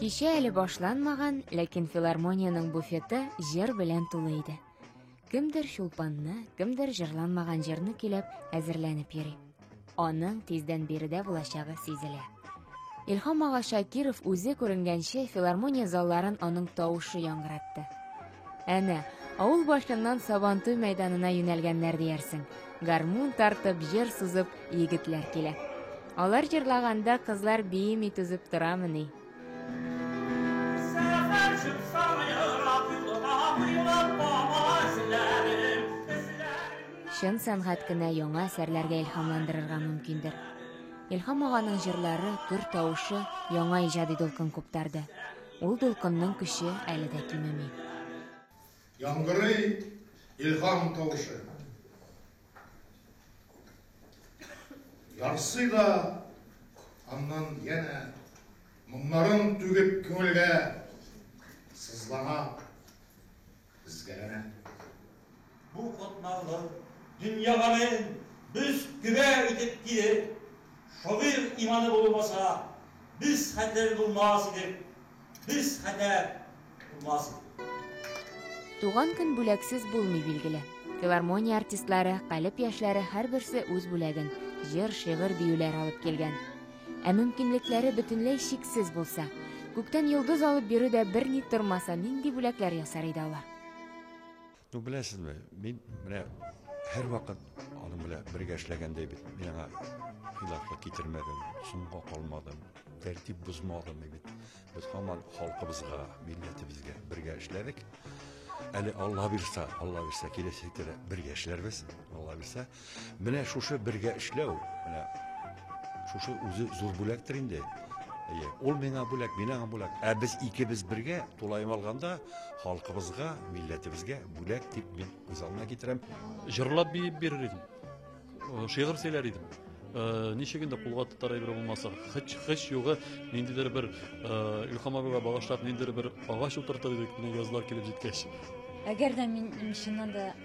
Кичә әле башланмаган, ләкин филармониянең буфеты җыр белән тулы иде. Кемдер чулпанны, кемдер җырланмаган җырны көйләп, әзерләнеп йөри. Аның тиздән биредә булачагы сизелә. Илһам ага Шакиров үзе күренгәнче филармония залларын аның тавышы яңгыратты. Әнә, авыл башыннан Сабантуй мәйданына юнәлгәннәр диярсең. Гармун тартып, җыр сузып, егетләр килә. Алар җырлаганда кызлар биеми түзеп торамыни? Чын сәнгать кенә яңа әсәрләргә илһамландырырга мөмкиндер. Илһам аганың җырлары, көр тавышы яңа иҗади дулкын куптарды. Ул дулкынның көче әле дә кимеми. Яңгырый илһам тавышы. Ярсый да аннан янә моңнарын түгеп күңелгә сызлана. Безгәләнә. Бу катмарлык дөнья гамелен бөз-төгә итеп килер. Шагыйрь иманы булмаса, без хәтер булмас идек, без хәтәр булмас идек. Туган көн бүләксез булмый, билгеле. Филармония артистлары, калеб яшьләре һәрберсе үз бүләген, җыр, шигырь, биюләр алып килгән. Ә мөмкинлекләре бөтенләй чиксез булса, күктән йолдыз алып бирү дә берни тормаса, нинди бүләкләр ясар иде алар? Ну, беләсезме, мин менә һәрвакыт аның белән бергә эшләгәндәй бит. Мин аңа хилафлык китермәдем, соңга калмадым, тәртип бозмадым бит. Без һаман халкыбызга, милләтебезгә бергә эшләдек. Әле Алла бирса, Алла бирса, киләчәктә дә бергә эшләрбез. Алла бирса, Менә шушы бергә эшләү, менә шушы үзе зур бүләктер инде. Әйе, ул миңа бүләк, мин аңа бүләк. Ә без икебез бергә, тулаем алганда, халкыбызга, милләтебезгә бүләк дип мин күз алдына китерәм. Җырлап биеп бирер идем. Э, шигырь сөйләр идем. Э, ничек инде кулга тотар әйбер булмаса, хыч хыч югы ниндидер бер э, Илхам абыйга багышлап ниндидер бер агач утыртыр идек, менә язлар килеп җиткәч. Әгәр дә мин чыннан да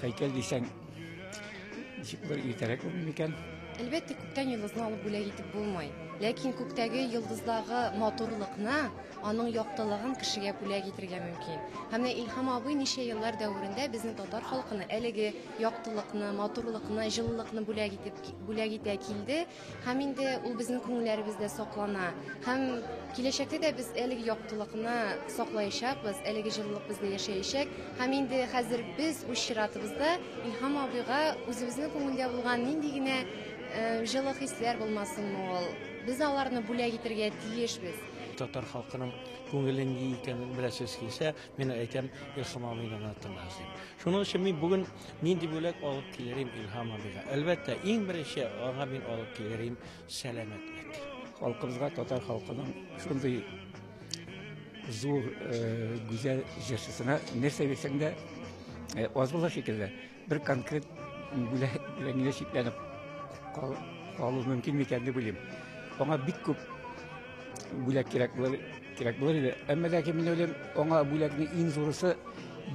Хәйкәл дисәң, ничек бер иртәрәк булмый микән? Әлбәттә, күктән йолдызны алып бүләк итеп булмый. Ләкин күктәге йолдыздагы матурлыкны, аның яктылыгын кешегә бүләк итергә мөмкин. Һәм менә Илһам абый ничә еллар дәверендә безнең татар халкына әлеге яктылыкны, матурлыкны, җылылыкны бүләк итеп, бүләк итә килде. Һәм инде ул безнең күңелләребездә саклана. Һәм киләчәктә дә без әлеге яктылыкны саклаячакбыз, әлеге җылылык бездә яшәячәк. Һәм инде хәзер без үз чиратыбызда Илһам абыйга үзебезнең күңелдә булган нинди генә э, җылы хисләр булмасынмы ул, без аларны бүләк итәргә тиешбез. Татар халкының күңеле ни икәнен беләсез килсә, мин әйтәм, Илһам абыйны гына тыңлагыз дип. Шуның өчен мин бүген Нинди бүләк алып килерим Илһам абыйга? Әлбәттә, иң беренче аңа мин алып килерим сәламәтлек. Халкыбызга, татар халкының шундый зур э, гүзәл җырчысына нәрсә бирсәң дә э, аз була шикелле. Бер конкрет бүләк белән генә чикләнеп кал- калу мөмкин микән дип уйлыйм. Аңа бик күп бүләк кирәк булыр Кирәк булыр иде. Әмма ләкин мин уйлыйм, аңа бүләкнең иң зурысы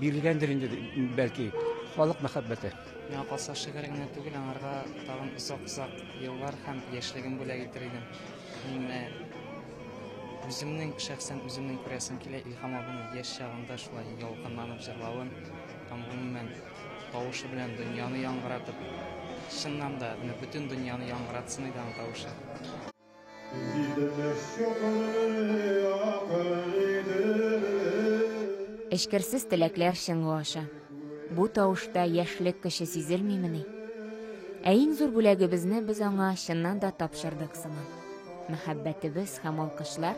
бирелгәндер инде, бәлки, халык мәхәббәте. Миңа калса, шигырь генә түгел, аңарга тагын озак-озак еллар һәм яшьлеген бүләк итер идем. Мин менә үземнең шәхсән үземнең күрәсем килә Илһам абыйның яшь чагында шулай ялкынланып җырлавын һәм гомумән тавышы белән дөньяны яңгыратып, чыннан да, менә бөтен дөньяны яңгыратсын иде аның тавышы. Эчкерсез теләкләр чыңы аша. Бу тавышта яшьлек көче сизелмимени? Ә иң зур бүләгебезне без аңа чыннан да тапшырдык сыман. Мәхәббәтебез һәм алкышлар